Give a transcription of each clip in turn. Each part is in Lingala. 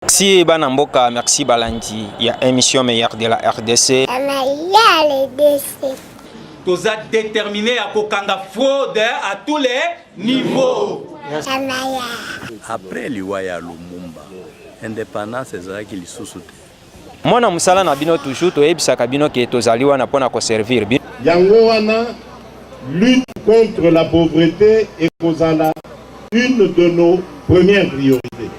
Merci bana mboka, merci balandi ya émission meilleure de la RDC. Toza déterminé à kokanga fraude à tous les niveaux. Après liwa ya Lumumba, indépendance ezalaki lisusu te. Mwana mosala na bino toujours toyebisaka bino ke tozali wana mpo na koservir bino. Yango wana lutte contre la pauvreté ekozala une de nos premières priorités.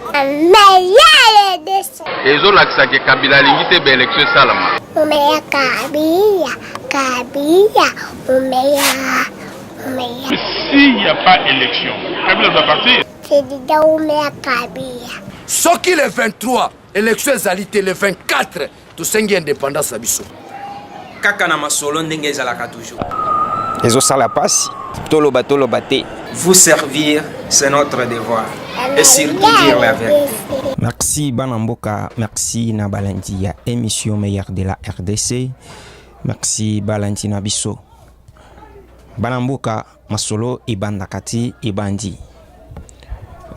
ezolakisa ke kabila alingi te baelektio esalama umeya kabila kabila umeya umeya s'il n'y a pas élection kabila doit partir président umeya kabila soki le 23 élection ezali te le 24 tosengi independance na biso kaka na masolo ndenge ezalaka toujours ezosala pasi toloba toloba te vous servir c'est notre devoir et surtout dire la vérité merci bana mboka merci na balandi ya émission meilleur de la rdc merci balandi na biso bana mboka masolo ebandaka ti ebandi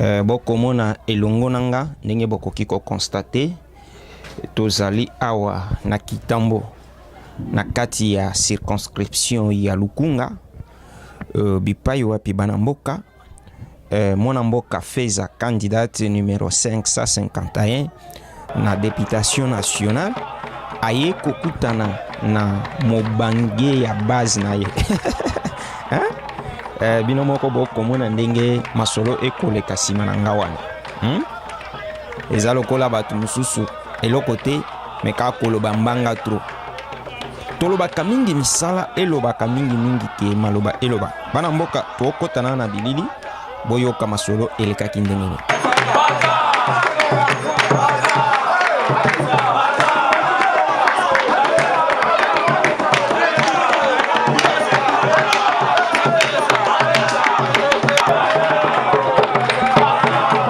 euh, bokomona elongo na nga ndenge bokoki kokonstate Tozali awa na Kitambo na kati ya circonscription ya Lukunga uh, bipai wapi bana mboka uh, mwana mboka Feza candidate numero 551 na deputation nationale aye kokutana na mobange ya base na ye eh, bino moko bokomona ndenge masolo ekoleka nsima na nga wana hmm? eza lokola bato mosusu eloko te me kaka koloba mbanga tro tolobaka mingi misala elobaka mingimingi te maloba eloba bana mboka tokotana na bilili boyoka masolo elekaki ndenge nini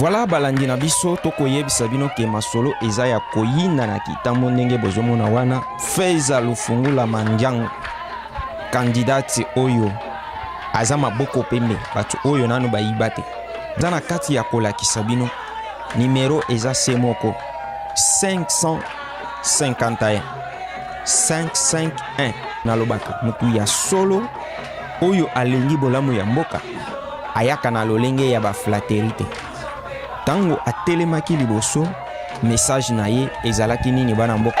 Voilà balandi na biso tokoyebisa bino ke masolo eza ya koyina na kitambo ndenge bozomona wana feza lufungula mandiango kandidati oyo aza maboko pembe bato oyo nanu bayiba te Za na kati ya kolakisa bino nimero eza se moko 551 551 nalobaka motu ya solo oyo alingi bolamu ya mboka ayaka na lolenge ya baflateri te ntango atelemaki liboso Message na ye ezalaki nini bana mboka?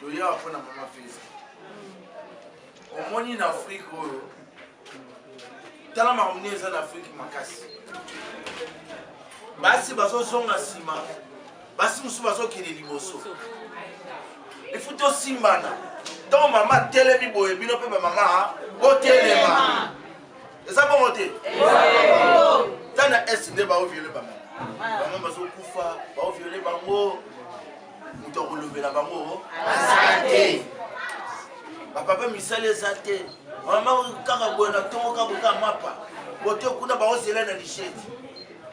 toya awa mpona mama feza omoni na afrike oyo tala makambo nini eza na afrike makasi basi bazozonga nsima basi mosusu bazokende liboso efu tosimbana ntango mama atelemi boye bino mpe bamama botelema eza bongo te ta na est nde baoviole bamama bamama bazokufa baoviole bango moto ya kolobela bango aza te bapapa misala eza te mama kaka boye na ntongo kaka kaka mapa bote kuna baozela na lisheti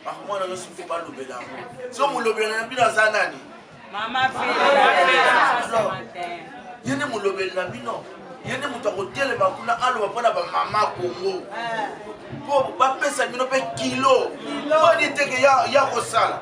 bamwana nyonso mpe balobela yango so molobela na bino aza nani ye nde molobeli na bino ye nde moto akotelema kuna aloba mpo na bamama kongo mpo eh. bapesa bino mpe kilo mpo niteke ya kosala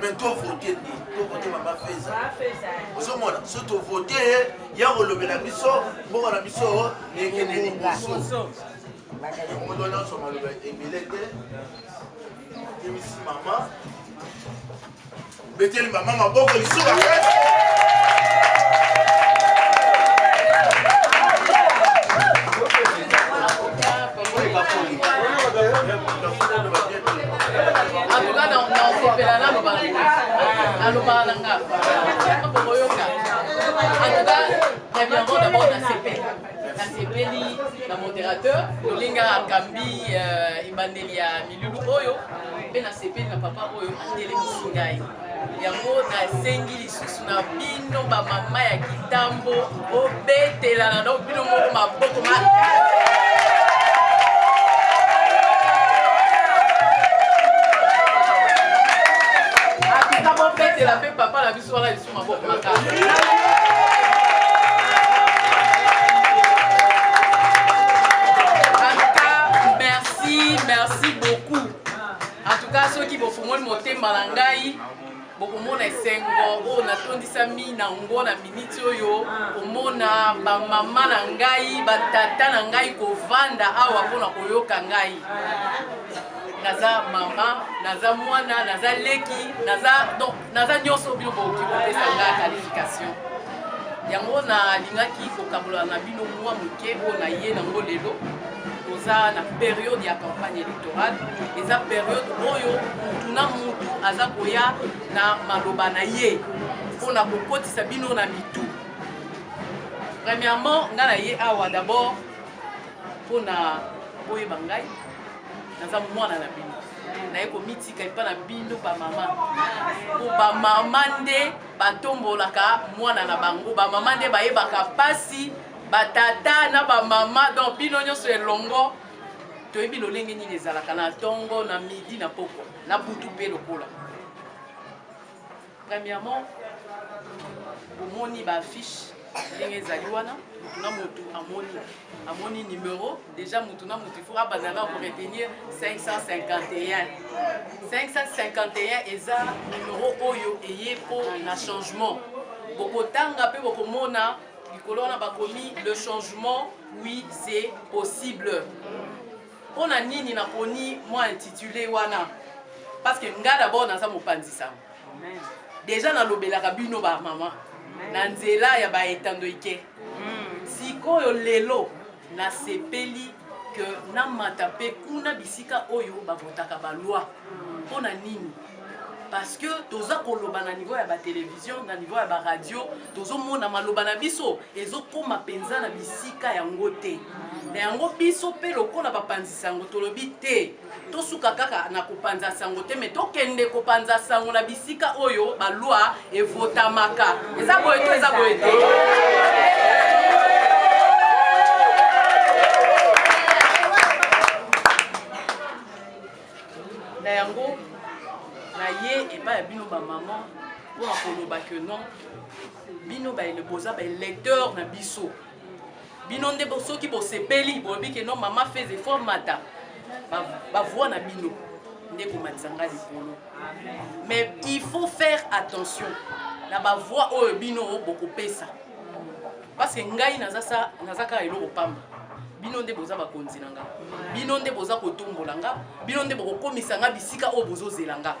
mais to vote nde to vote mama feza ozomona so to vote ye ya kolobela biso mboka na biso ekende liboso moto nyonso maloba ebele te emisi mama beteli mama maboko lisusu bakasi atuka naosepela naloba nalobaka na nga bokoyoka atuka ya biango dabord nasepeli nasepeli na modérateur lolinga akambi euh, ebandeli ya milulu oyo mpe nasepeli na papa oyo atelemisi ngai yango nasengi lisusu na bino bamama ya kitambo bobetelana no bino moko maboko makasi kobetela mpe papa na biso wana lisusu maboko makasi merci merci beaucoup en tout cas soki bofungoli motema na ngai bokomona esengo oyo natondisami na yango na miniti oyo komona bamama na ngai batata na ngai kovanda awa mpona koyoka ngai naza mama naza mwana naza leki naza donc naza nyonso bino bokoki kopesa ngai qualification yango nalingaki kokabola na bino mwa moke oyo naye nango lelo toza na periode ya campagne électorale eza periode oyo mutu na mutu aza koya na maloba na ye mpo na kokotisa bino na mitu premièrement ngai na ye awa d'abord mpo na boyeba ngai naza mwana na bino naye komitika epa na bino bamama po bamama nde batombolaka mwana na bango bamama nde bayebaka mpasi ba tata na ba mama donc bino nyonso elongo toyebi lolenge nini ezalaka na ntongo na midi na pokwa na butu mpe lokola premièrement bomoni baaffiche ndenge ezali wana motu na motu amoni amoni numero déjà motu na motu ifo abanda na koretenir 551 551 eza numero oyo eye mpo na changement bokotanga mpe bokomona likolo wana bakomi le changement oui c'est possible mpo na nini naponi mwa intitule wana parce que nga d'abord naza mopanzi sango deja nalobelaka bino bamama na nzela ya baetando ike sikoyo lelo Nasepeli que namata mpe kuna bisika oyo bavotaka ba loi mpo na nini parce que toza koloba na niveau ya batelevision na niveau ya baradio tozomona maloba na biso ezokóma mpenza na bisika yango te na yango biso mpe lokola bapanzisi yango tolobi te tosuka kaka na kopanza sango te me tokende kopanza sango na bisika oyo balwa evotamaka eza boye to eza boye te na yango naye epai ya bino bamama mpona koloba ke non bino boza baelecteur na biso bino nde soki bosepeli bolobi ke no mama fais effort mata bavoi na bino nde komatisa ngai likolo mais il faut faire attention na bavoi oyo bino bokopesa parce que ngai naza kaka eloko pamba bino nde boza bakonzi na nga bino nde boza kotombola nga bino nde bokokomisa nga bisika oyo bozozela nga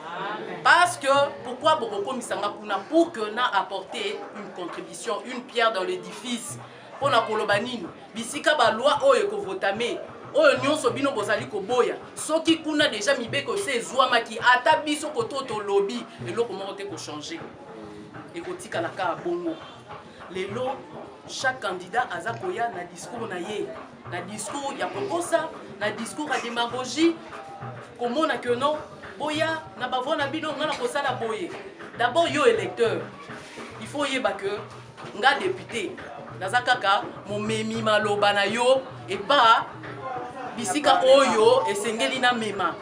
parce que pourquoi bokokomisa nga kuna pour que na apporter une contribution sur une pierre dans l'édifice mpo na koloba nini bisika baloi oyo ekovotame oyo nyonso bino bozali koboya soki kuna deja mibeko se ezwamaki ata biso koto tolobi eloko moko te kochange ekotikala kaka bongo lelo chaque candidat aza koya na discours na ye na discours ya kokosa na discours ya demagogie komona que non boya na bavoi na bino ngai nakosala boye d'abord yo électeur il faut oyeba que nga député naza kaka momemi maloba na yo epa bisika oyo esengeli na mema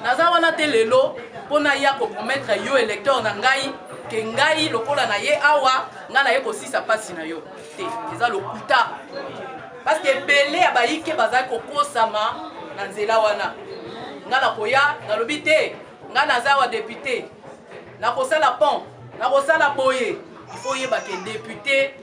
naza wana te lelo mpo naya kopromettre yo électeur na ngai ke ngai lokola na ye awa ngai naye kosisa mpasi na yo te eza lokuta parce que ebele ya bayike bazali kokosama na nzela wana ngai nakoya nalobi te ngai naza wa depute nakosala pont nakosala boye ifo oyeba ke depute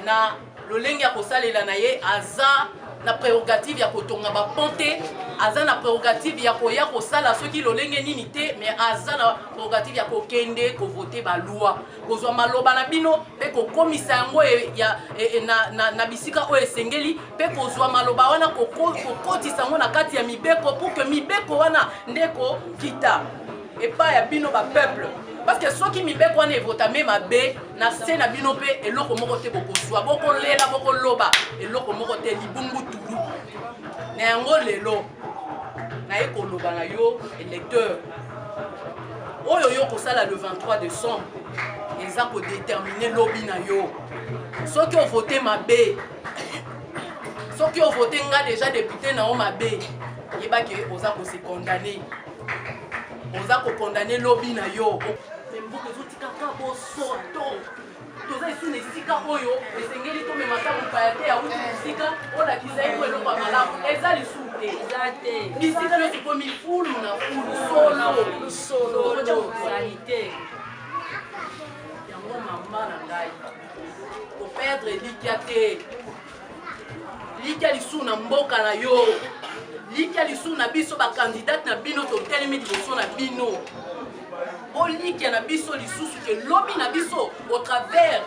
na lolenge ya kosalela na ye aza na prerogative ya kotonga bapont te aza na prerogative ya koya kosala soki lolenge nini te mais aza na prerogative ya kokende kovote baloi kozwa maloba na bino mpe kokomisa yango e, ya, e, e, na, na, na bisika oyo esengeli mpe kozwa maloba wana kokotisa yango na kati ya mibeko pour que mibeko wana nde kokita epai ya bino bapeuple parce que soki mibeko wana evotame mabe na se na bino mpe eloko moko te bokozwa bokolela bokoloba eloko moko te libungu tulu na yango lelo naye koloba na yo electeur oyo yo kosala le 23 décembre eza kodetermine lobi na yo soki ovote mabe soki ovote nga deja depute na yo mabe yeba ke oza kose condamne oza kokondamne lobi na yo mbuka ezotikaka bosoto Toza lisusu na esika oyo esengeli tomema ata mopaya te awuti mosika olakisa ye mpo eloko ya malamu eza lisusu te eza te bisika nyonso ekomi fulu na fulu solo solo ozali te yango mama na ngai koperdre elikya te likia lisusu na mboka na yo likia lisusu na biso bakandidate na bino totelemi liboso na bino bolikia na biso lisusu ke lobi na biso au travers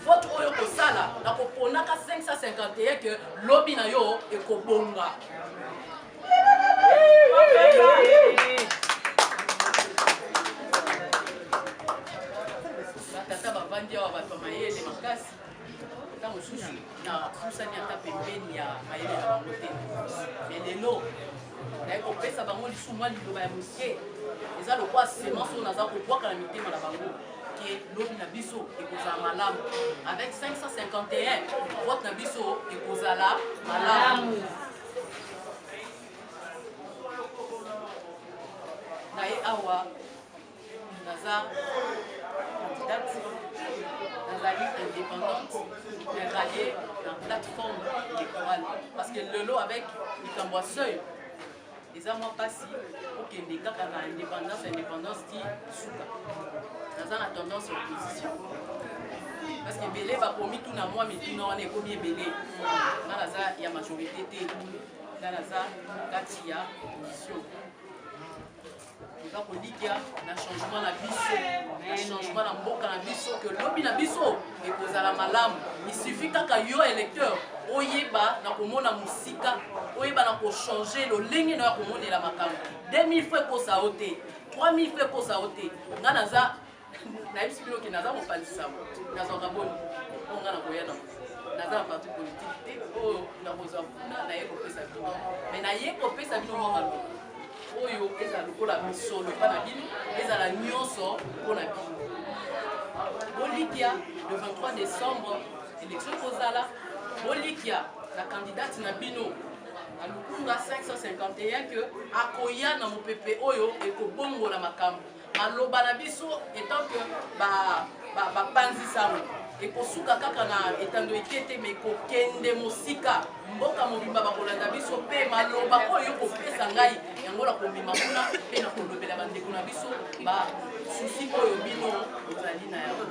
vote oyo kosala na koponaka 551 ke lobi na yo ekobonga batata bavandi awa bato ya mayele makasi ntango mosusu napusani ata pembeni ya mayele na bango te me lelo naye kopesa bango lisusu mwa liloba ya moke eza lokwa semence oyo naza kobwaka na mitema na bango ke lobi na biso ekozala malamu avec 551 vote na biso ekozala malamu naye awa naza candidate nazali indépendante mais rallier na plateforme électorale parce que lelo avec likambo ya seuil eza mwa mpasi okende kaka na indépendance indépendance ti suka naza na tendance ya opposition parce que ebele bakomi tuna mwa mituna wana ekomi ebele nga naza ya majorité te nga naza kati ya opposition toza kolikya na changement na biso na changement na mboka na biso ke lobi na biso ekozala malamu isufi kaka yo électeur oyeba na komona mosika oyeba na kochange lolenge na yo ya komonela makambo 2000 fo ekosa yo te 3000 fo ekosa yo te ngai naza nayebisi bino ke naza kopanzisa nazwaka boni oyo nga nakoya na naza na parti politike te oyo nakozwa kuna naye kopesa bino me naye kopesa bino mwa maloba oyo ezala lokola misolo epa na bino ezala nyonso mpo na bino bolikya le 23 décembre élection ekozala bolikya na kandidate na bino na lukunga 551 ke akoya na mopepe oyo ekobongola makambo maloba na biso etant que bapanzi ba, ba sango ekosuka kaka na etando ike te me kokende mosika mboka mobimba bakolanda biso mpe maloba oyo kopesa ngai yango na kobima kuna mpe na kolobela bandeko na biso basusi oyo bino ozali na yango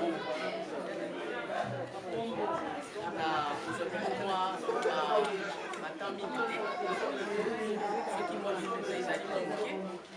na kozali mwa batemp mingi te soki mwa mingi ezali mwa moke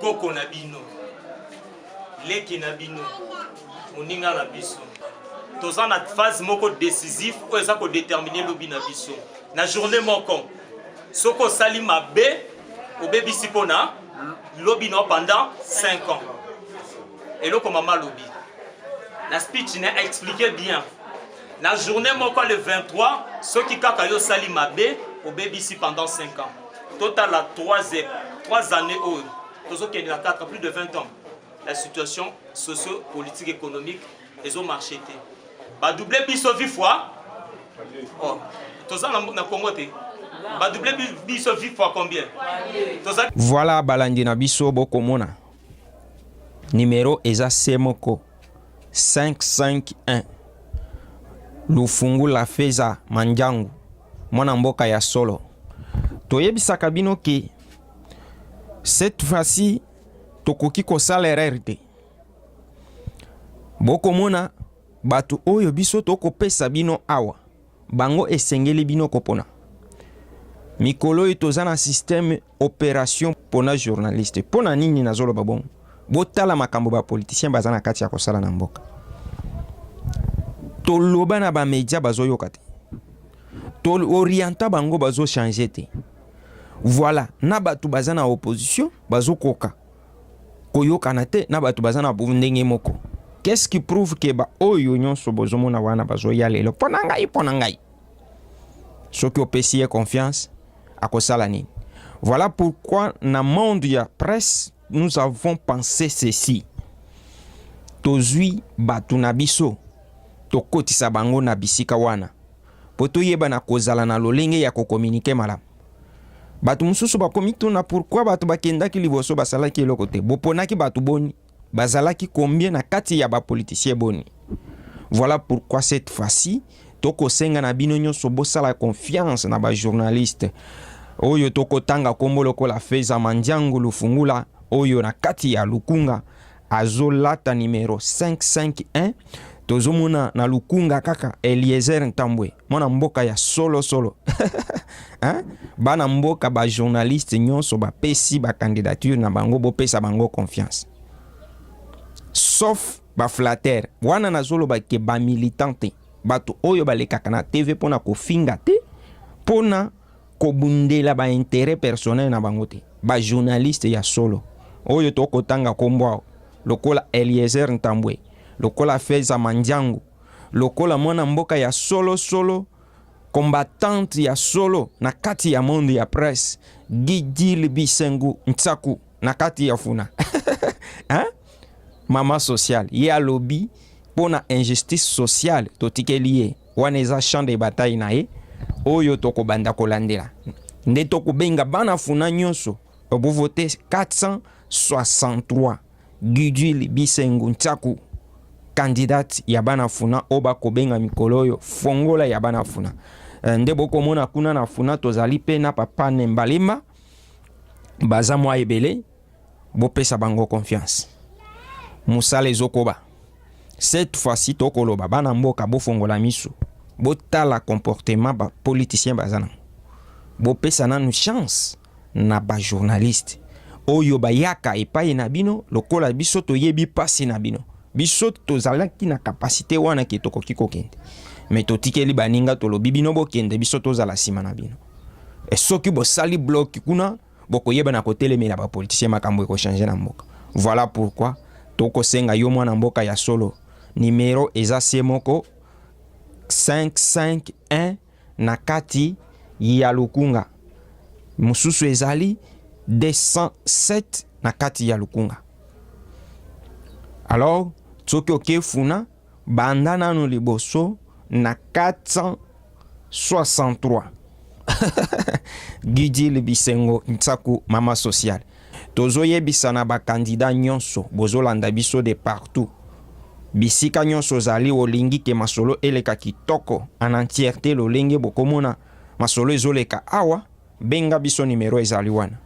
koko na bino leki na bino moninga na biso toza na phase moko décisif oyo eza kodetermine lobi na biso na journée moko soki osali mabe obebisi mpo na lobi na pendant 5 ans eloko mama alobi na speech ne aexplike bien na journée moko le 23 soki kaka yo osali mabe obebisi pendant 5 ans totala 3 3 années oyo tozokende na 4 plus de 20 ans la situation socio politique économique ezo marché te badouble biso vi fois oh, toza na congo te badouble biso vi fois combien toza voilà balandi na biso bokomona numero eza se moko 551 lufungula feza manjangu Mwana mboka ya solo, toyebisaka bino ke cette fois-ci tokoki kosala erreur te. Bokomona bato oyo biso tokopesa bino awa, bango esengeli bino kopona. Mikolo oyo toza na système operation pona journaliste pona nini nazoloba bongo botala makambo bapoliticien baza na kati ya kosala na mboka toloba na bamedia bazoyoka te toorienta bango bazochange te voilà na bato baza na opposition bazokoka koyokana te na bato baza na ndenge moko qu'est-ce qui prouve ke baoyo nyonso bozomona wana bazoya lelo mpo na ngai mpo na ngai soki opesi ye confiance akosala nini voilà pourquoi na monde ya presse nous avons pensé ceci tozwi bato na biso tokotisa bango na bisika wana mpo toyeba na kozala na lolenge ya kokominike malamu bato mosusu bakomituna pourkui bato bakendaki liboso basalaki eloko te boponaki bato boni Bazalaki combien na kati ya ba politiciens boni? Voilà pourquoi cette fois-ci tokosenga na bino nyonso bosala confiance na ba journalistes oyo tokotanga kombo lokola Feza Mandiangu Lufungula oyo na kati ya Lukunga azolata numero 551 tozomona na lukunga kaka eliezer ntambwe mwana mboka ya solo solo hein? bana mboka bajournaliste nyonso bapesi bacandidature na bango bopesa bango confiance sauf baflatere wana nazoloba ke bamilitant te bato oyo balekaka na tv mpo na kofinga te mpo na kobundela ba intérêt personnel na bango te ba journaliste ya solo oyo tokotanga kombo awa lokola Eliezer Ntambwe lokola Feza Mandiangu lokola mwana mboka ya solo solo combattante ya solo na kati ya monde ya presse Gidil Bisengu Nsaku na kati ya funa hein? mama sociale ye alobi mpo na injustice sociale totikeli ye Wana eza champ de bataille na ye oyo tokobanda kolandela nde tokobenga bana funa nyonso bovote 463 Gudule Bisengu Nsaku candidate ya bana funa oyo bakobenga mikolo oyo fongola ya bana funa eh, nde bokomona kuna na funa tozali mpe na papa Nembalemba baza mwa ebele bopesa bango confiance musala ezokoba cette fois-ci tokoloba bana mboka bofongola misu botala comportement ba politicien baza nango bopesa nanu chance na bajournaliste oyo bayaka epai na bino lokola biso toyebi mpasi na bino biso tozalaki na kapasite wana ke tokoki kokende me totikeli baninga tolobi bino bokende biso tozala nsima na bino e soki bosali bloki kuna bokoyeba na kotelemela ba politiciens makambo ekochange na mboka voilà pourquoi tokosenga yo mwana mboka ya solo numero eza se moko 551 na kati ya lukunga mosusu ezali 207 na kati ya lukunga alors soki okefuna Banda nanu liboso na 463 Gudule Bisengo Nsaku mama sociale tozo yebisa na ba candidats nionso bozo landa biso de partout bisika nionso ozali olingi ke masolo eleka kitoko en entièrete lolenge bokomona masolo ezoleka awa Benga biso numero ezali wana.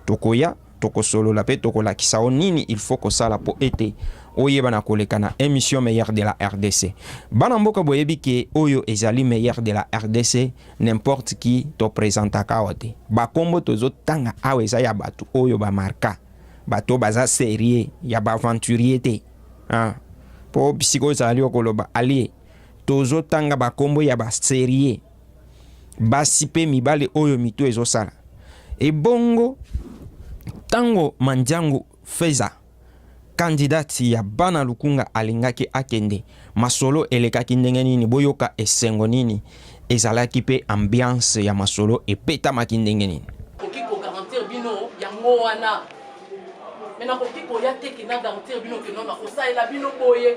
Tokoya tokosolola pe tokolakisa o nini il faut kosala po ete oyeba na koleka na emission meilleur de la RDC. Bana mboka boyebi ke oyo ezali meilleur de la RDC n'importe qui to presentaka awa te. Ba kombo tozo tanga awa eza ya batu oyo ba marka. Bato baza serieux ya ba aventurier te. Ah. Po bisika ozali okoloba alie tozo tanga ba kombo ya ba serieux basi mpe mibali oyo mitu ezosala ebongo ntango mandiangu feza kandidati ya bana lukunga alingaki akende masolo elekaki ndenge nini boyoka esengo nini ezalaki mpe ambiance ya masolo epetamaki ndenge nini koki kogarantir bino yango wana me nakoki koya te kina garantir bino kenona kosalela bino boye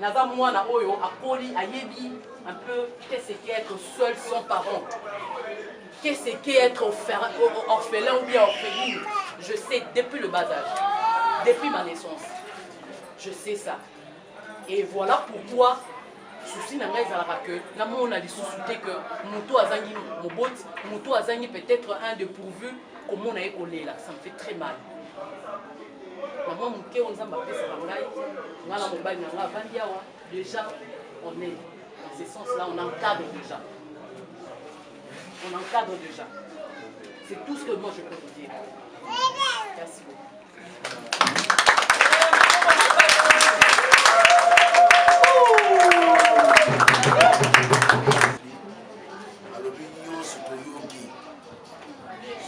Naza mwana oyo akoli ayebi un peu qu'est ce qui être seul sans parent. Qu'est ce qui être orphelin ou bien orpheline. Je sais depuis le bas âge, depuis ma naissance. Je sais ça. Et voilà pourquoi souci na ngai ezalaka que namona lisusu te que moto azangi moboti moto azangi peut-être un de pourvu komona ye kolela ça me fait très mal na mwa moke oyo nzambe apesaka ngai ngai na mobali na ngai avandi awa déjà on est dans ce sens là on encadre déjà on encadre déjà c'est tout ce que moi je peux vous dire merci beaucoup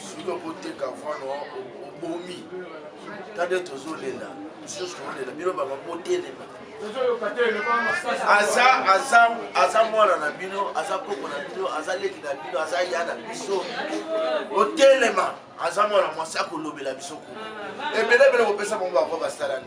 soki okoteka vano obomi tade tozolela mosusu tozolela bino banga botelema aza aza aza mwana na bino aza koko na bino aza leki na bino aza ya na biso otelema aza mwana mwasi akolobela biso kuna ebelebele kopesa bango bako basalani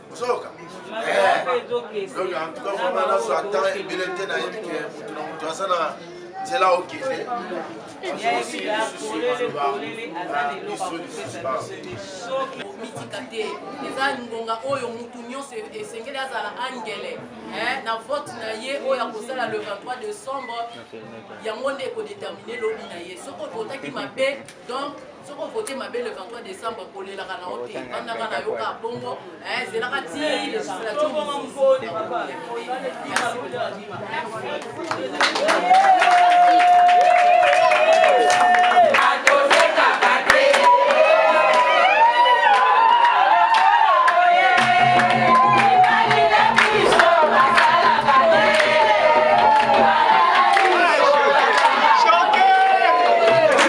ozoyoka donc en tout cas vraiment nazwa temps ebele te nayebi ke moto na moto aza na nzela okende mitika te eza ngonga oyo motu nyonso esengeli azala angele na vote na ye oyo akosala le 23 décembre yango nde ekodetermine lobi na ye soki okotaki mabe donc soki ovote mabe le 23 décembre kolelaka na yo te bandaka na yo kaka bongo ezelaka ti législature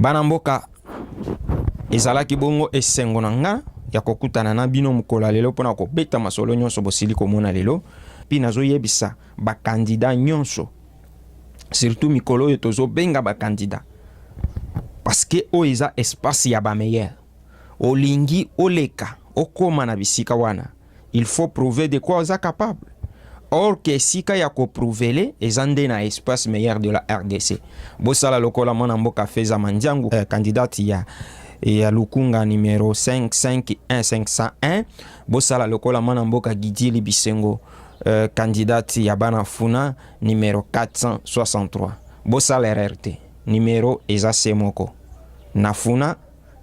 bana mboka ezalaki bongo esengo na nga ya kokutana na bino mokolo ya lelo mpo na kobeta masolo nyonso bosili komona lelo mpe nazoyebisa bakandida nyonso surtout mikolo oyo tozobenga bakandida parceke oyo eza espace ya bameilleur olingi oleka okoma na bisika wana il faut prouver de quoi oza capable or que esika ya koprouvele eza nde na espace meilleur de la rdc bosala lokola mwana mboka feza mandiangu eh, candidate ya ya lukunga numero 551501 bosala lokola mwana mboka gidili bisengo eh, candidate ya bana funa numero 463 bosala erreur te numero eza se moko na funa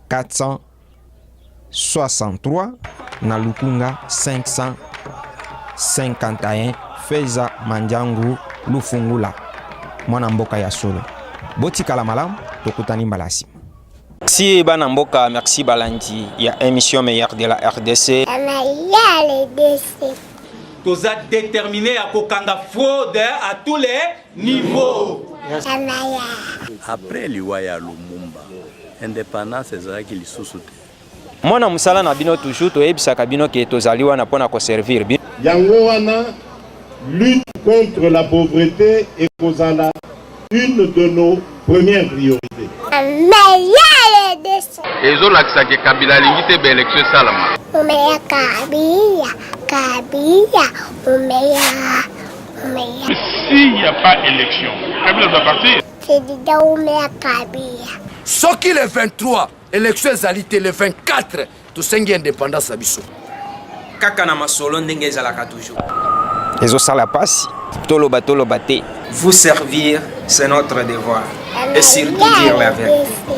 463 na lukunga 551 feza manjangu lufungula mwana mboka ya solo botikala malamu tokutani mbala nsima merci bana mboka merci balandi ya émission meilleur de la rdc toza déterminé ya kokanga fraude à tous les niveau après liwa ya lumumba independance ezalaki lisusu te mwana mosala na bino toujours toyebisaka bino ke tozali wana mpo na koservir bino yango wana lutte contre la pauvreté ekozala une de nos premières priorités ezolakisa ke kabila alingi te baelektio esalama omeya kabila kabila omeya S'il n'y a pas élection, Kabila doit partir. soki le 23 élection ezali te le 24 tosengi indépendance na biso kaka na masolo ndenge ezalaka toujours ezosala mpasi toloba toloba te vous servir c'est notre devoir et surtout dire la vérité